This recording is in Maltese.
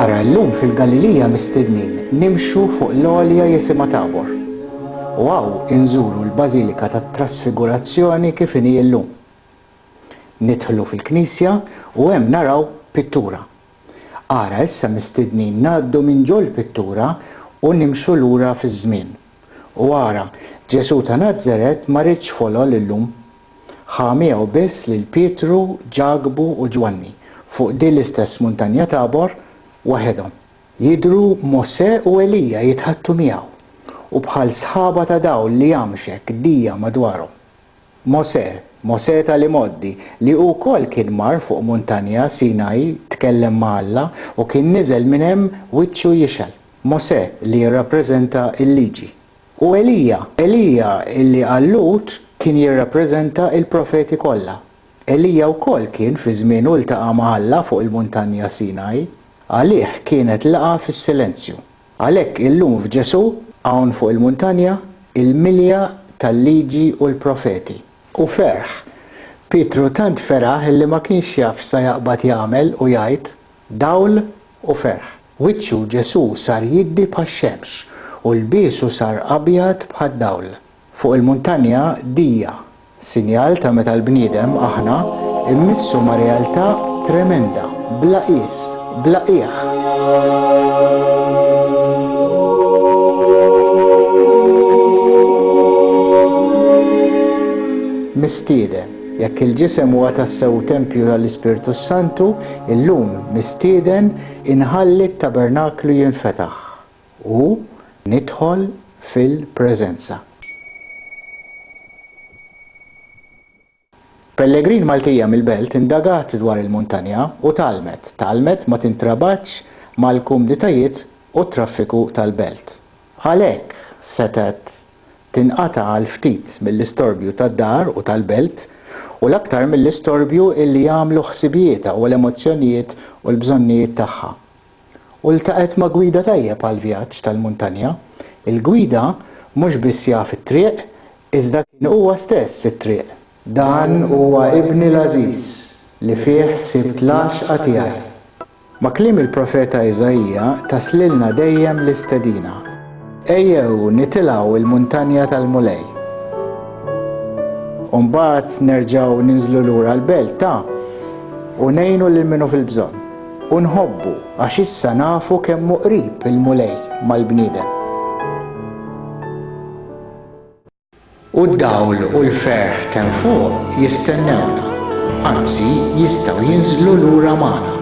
Ara llum fil-Galilija mistednin nimxu fuq l-għolja jisimha Tabor, u hawn inżuru l-Bażilika tat-Trasfigurazzjoni kif inhi llum. Nidħlu fil-knisja u hemm naraw pittura. Ara issa mistednin ngħaddu minn ġol-pittura u nimxu lura fiż-żmien. U ara, Ġesù ta' Nazaret ma riedx folol illum. Ħa miegħu biss lil Pietru, Ġakbu u Ġwanni, fuq din l-istess muntanja Tabor, waħedhom. Jidhru Mosè u Elija jitħaddtu miegħu, u bħal sħaba ta' dawl li jamxek dija madwarhom. Mosè, Mosè tal-imgħoddi, li hu wkoll kien mar fuq muntanja Sinaj tkellem ma' Alla u kien niżel minn hemm wiċċu jixgħel. Mosè li jirrappreżenta l-Liġi. U Elija, Elija li għal Lut kien jirrappreżenta l-profeti kollha. Elija wkoll kien fi żmienu ltaqa' ma' Alla fuq il-muntanja Sinaj. Għalih kienet laqgħa fis-silenzju. Għalhekk illum f'Ġesù, hawn fuq il-muntanja, il-milja tal-Liġi u l-Profeti, u ferħ. Pietru tant feraħ illi ma kienx jaf x'sa jaqbad jagħmel u jgħid, dawl u ferħ. Wiċċu Ġesù sar jiddi bħax-xemx, u lbiesu sar abjad bħad-dawl. Fuq il-muntanja dija, sinjal ta' meta l-bniedem, aħna, immissu ma' realtà tremenda, bla qies, bla qiegħ. Mistieden. Jekk il-ġisem huwa tassew tempju tal-Ispirtu s-Santu, illum, mistieden inħalli t-tabernaklu jinfetaħ. U nidħol fil-preżenza. Pellegrin Maltija mill-Belt indagat dwar il-muntanja u tgħallmet. Tgħallmet ma tintrabatx mal-kumditajiet u t-traffiku tal-Belt. Għalhekk setgħet tinqata' għal ftit mill-istorbju tad-dar u tal-Belt u l-aktar mill-istorbju illi jagħmlu ħsibijietha u l-emozzjonijiet u l-bżonnijiet tagħha. u ltaqgħet ma' gwida tajjeb għall-vjaġġ tal-muntanja. Il-gwida mhux biss jaf it-triq, iżda kien huwa stess it-triq. Dan huwa ibni l-għażiż, li fih sibt l-għaxqa tiegħi. Ma' kliem il-profeta Iżaija taslilna dejjem l-istedina. Ejjew nitilgħu l-muntanja tal-Mulej. U mbagħad nerġgħu ninżlu lura l-belt ta' u ngħinu lil min hu fil-bżonn. U nħobbu għax issa nafu kemm hu qrib il-Mulej mal-bniedem. U d-dawl u l-ferħ t'hemm fuq jistennewna, anzi jistgħu jinżlu lura magħna.